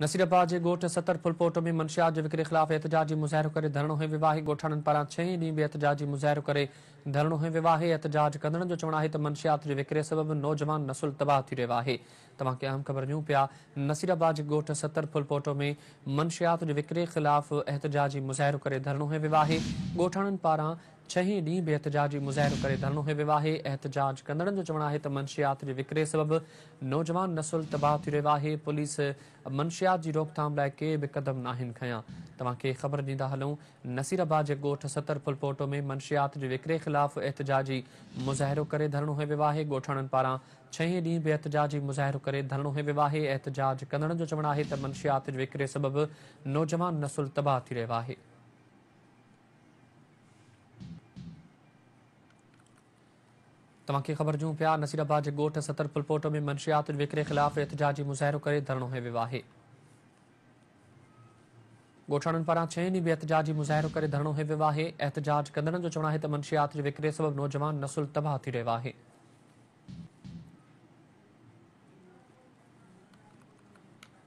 نصيرآباد جي ڳوٺ ستر ڦلپوٽ ۾ منشيات جي وڪري خلاف احتجاجي مظاهرو ڪري ڌرڻو هنيو ويو آهي، ڳوٺاڻن پاران ڇهين ڏينهن به احتجاجي مظاهرو ڪري ڌرڻو هنيو ويو آهي، احتجاج ڪندڙن جو چوڻ آهي ته منشيات جي وڪري سبب نوجوان نسل تباهه ٿي رهيو آهي. توهان کي اهم خبر ڏيون پيا نصيرآباد جي ڳوٺ ستر ڦلپوٽ ۾ منشيات جي وڪري خلاف احتجاجي مظاهرو ڪري ڌرڻو هنيو ويو آهي، ڳوٺاڻن پاران ڇهين ڏينهن به احتجاجي مظاهرو ڪري ڌرڻو هنيو ويو آهي، احتجاج ڪندڙن جو چوڻ آهي ته منشيات جي وڪري سبب نوجوان نسل تباهه ٿي رهيو آهي، پوليس منشيات جي روڪٿام لاء ڪي به قدم ناهن کنيا، توهان کي خبر ڏيندا هلون نصير آباد جي ڳوٺ ستر ڦلپوٽو ۾ منشيات جي وڪري خلاف احتجاجي مظاهرو ڪري ڌرڻو هنيو ويو آهي، ڳوٺاڻن پاران ڇهين ڏينهن به احتجاجي مظاهرو ڪري ڌرڻو هنيو ويو آهي، احتجاج ڪندڙن جو چوڻ آهي ته منشيات جي وڪري سبب نوجوان نسل تباهه ٿي رهيو آهي. توهان کي خبر ڏيون پيا نصير آباد جي ڳوٺ ستر ڦلپوٽ ۾ منشيات وڪري خلاف احتجاجي مظاهرو ڪري ڌرڻو هنيو ويو آهي ڳوٺاڻن پاران ڇهين ڏينهن به احتجاجي مظاهرو ڪري ڌرڻو هنيو ويو آهي احتجاج ڪندڙن جو چوڻ آهي ته منشيات جي وڪري سبب نوجوان نسل تباهه ٿي رهيو آهي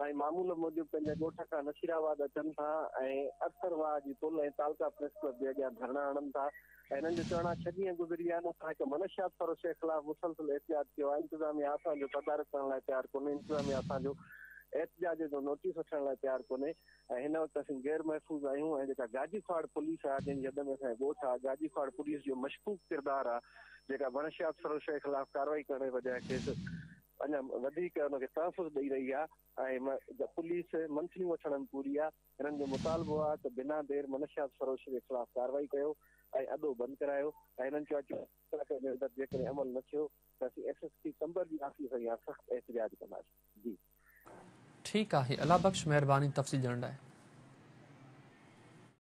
سائين معمول موجب پنهنجي ڳوٺ کان نصير آباد اچن ٿا ۽ ارسر واهه جي پل ۽ تعلقه پريس ڪلب جي اڳيان ڌرڻا هڻن ٿا ۽ هنن جو چوڻ آهي ڇهه ڏينهن گذري ويا آهن اسان هڪ منشيات فروش جي خلاف مسلسل احتجاج ڪيو آهي انتظاميا اسان جو تدارڪ ڪرڻ لاء تيار ڪونهي انتظاميا اسان جو احتجاج جو نوٽيس وٺڻ لاء تيار ڪونهي ۽ هن وقت اسين غير محفوظ آهيون ۽ جيڪا گاجي کواڙ پوليس آهي جنهن جي حد ۾ اسان جو ڳوٺ آهي گاجي کواڙ پوليس جو مشڪوڪ ڪردار آهي جيڪا منشيات فروش جي خلاف ڪارروائي ڪرڻ جي بجاء کيس اڃا وڌيڪ ان کي تحفظ ڏئي رهي آهي ۽ پوليس منٿليون وٺڻ ۾ پوري آهي، هنن جو مطالبو آهي ته بنا دير منشيات فروش جي خلاف ڪارروائي ڪيو ۽ اڏو بند ڪرايو ۽ هنن چيو آهي ته ٻه ڪلاڪن جي اندر جيڪڏهن عمل نه ٿيو ته اسين ايس ايس پي قمبر جي آفيس اڳيان سخت احتجاج ڪنداسين. ٺيڪ آهي الله بخش مهرباني تفصيل ڏيڻ لاء.